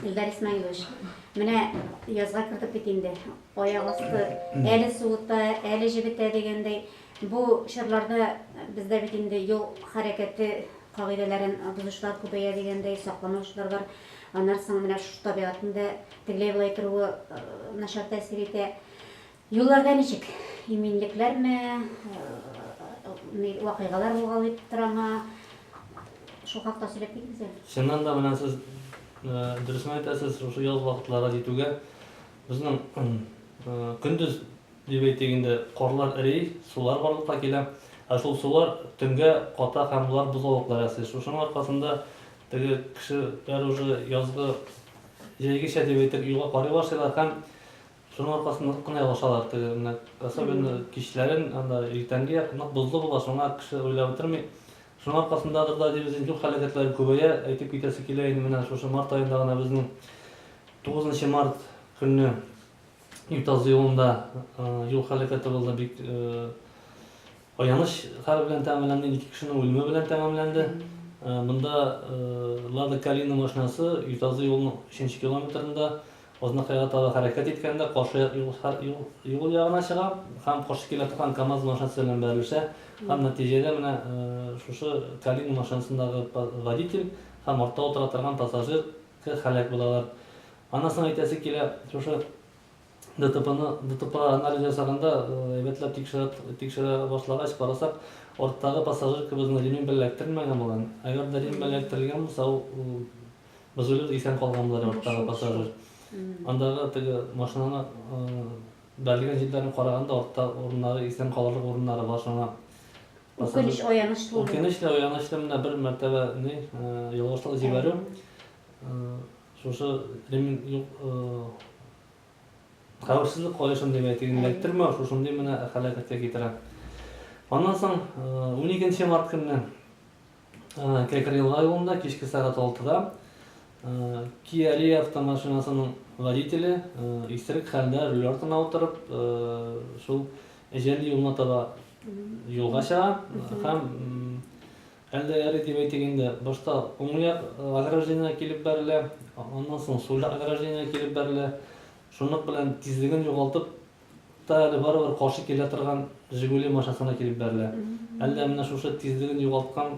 Илдар Исмаилович, менә язга кердек бит инде. Аяк асты әле суыта, әле җебетә дигәндәй. Бу чорларда бездә бит инде юл хәрәкәте кагыйдәләрен бозучылар күбәя дигәндәй, сакламаучылар бар. Аннары соң менә шушы табигатьнең дә тегеләй-болай торуы начар тәэсир итә. Юлларда ничек? Иминлекләрме, вакыйгалар булгалыйп торамы? Шул хакта сөйләп китегез әле. Чыннан да менә сез дөресен әйтәсез, шушы ял вакытлары җитүгә безнең көндез дип әйтик инде, карлар эри, сулар барлыкка килә. Ә шул сулар төнгә ката һәм болар бозаулыклар ясый. Шушының аркасында теге кешеләр уже язгы җәйгечә дип әйтеп юлга карый башлыйлар һәм Шуның аркасында нык кына ялгышалар. Теге менә особенно кичләрен, анда иртәнге як нык бозлы була, шуңа кеше уйлап утырмый. Шуның аркасындадыр да дибез инде, юл һәлакәтләре күбәя. Әйтеп китәсе килә инде, менә шушы март аенда гына безнең тугызынчы март көнне Ютазы юлында юл һәлакәте булды, бик аяныч хәл белән тәмамланды, ике кешенең үлеме белән тәмамланды. Монда Лада Калина машинасы Ютазы юлының өченче километрында Азнакайга таба хәрәкәт иткәндә, каршы як юл ягына чыга һәм каршы килә торган КАМАЗ машинасы белән бәрелешә һәм нәтиҗәдә менә шушы Калина машинасындагы водитель һәм артта утыра торган пассажир һәлак булалар. Аннан соң әйтәсе килә, шушы ДТПны, ДТП анализ ясаганда, әйбәтләп тикшерә башлагач карасак, арттагы пассажиркабызны ремень белән эләктермәгән булган. Әгәр дә ремень белән эләктерелгән булса, ул Безулет исән калган була, арттагы пассажир. Андагы теге машинаны бәрелгән җирләрен караганда, артта урыннары исән калырлык урыннары бар шуңа. Үкенеч аянычлы. Үкенеч тә аянычлы менә бер мәртәбә ни ялгышлык җибәрү. Шушы ремень юк хәвефсезлек каешын дип әйтегез, эләктермәү шушындый менә хәләкәткә китерә. Аннан соң 12 март көнне Кәкрыел районында кичке сәгать алтыда Kia Rio автомашинасының водителе исерек хәлдә руль артына утырып, шул җәлил юлына таба юлга чыга һәм әллә эре дип әйтик инде, башта уң як ограждениегә килеп бәрелә, аннан соң сул як ограждениегә килеп бәрелә. Шунык белән тизлеген югалтып, Та әле барыбер каршы килә торган Жигули машинасына килеп бәрелә. Әллә менә шушы тизлеген югалткан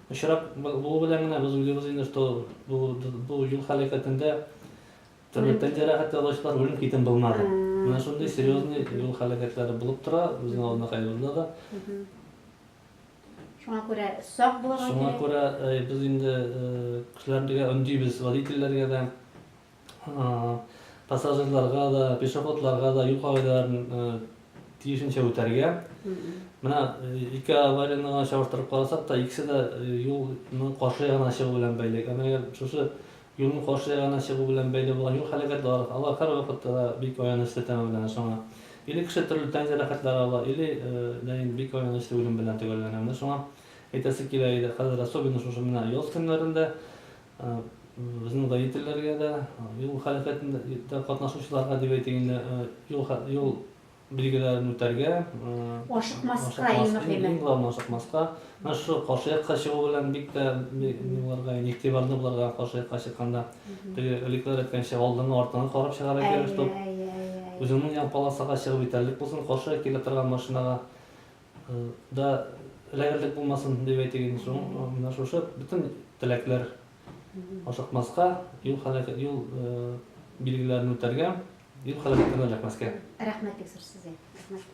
очрак булу белән генә без уйлыйбыз инде, что бу бу юл һәлакәтендә төрле тән җәрәхәт алучылар үлем китен булмады. Менә шундый серьезный юл һәлакәтләре булып тора безнең авылнакаебызда да. Шуңа күрә сак булырга кирәк. Шуңа күрә без инде кешеләргә өндибез, водительләргә дә. пассажирларга да, пешеходларга да юл кагыйдәләрен тиешенчә үтәргә. Менә ике аварияне чагыштырып карасак та, икесе дә юлның каршы ягына чыгу белән бәйле. Әмма әгәр шушы юлның каршы ягына чыгу белән бәйле булган юл һәлакәтләре, алар һәрвакытта да бик аянычлы тәмам белән шуңа. Или кеше төрле тән җәрәхәтләре ала, или дә инде бик аянычлы үлем белән төгәлләнә. Менә шуңа әйтәсе килә иде, хәзер особенно шушы менә яз көннәрендә Безнең водительләргә дә, юл хәрәкәтендә катнашучыларга дип әйтик инде, юл билгеләрен үтәргә, ашыкмаска, иң мөһиме. Иң главное, ашыкмаска. Менә шушы каршы якка чыгу белән бик тә булырга, игътибарлы булырга каршы якка чыкканда. Теге элеккеләр әйткәнчә, алдыңа, артыңа карап чыгарга кирәк, чтоб үзеңнең ян полосага чыгып җитәрлек булсын, каршы килә торган машинага. Да эләгерлек булмасын, дип әйтик инде шуң, менә шушы бөтен теләкләр ашыкмаска, юл һәлакәт, юл билгеләрен үтәргә, юл һәлакәтенә эләкмәскә. Рәхмәт, бик зур сезгә. Рәхмәт.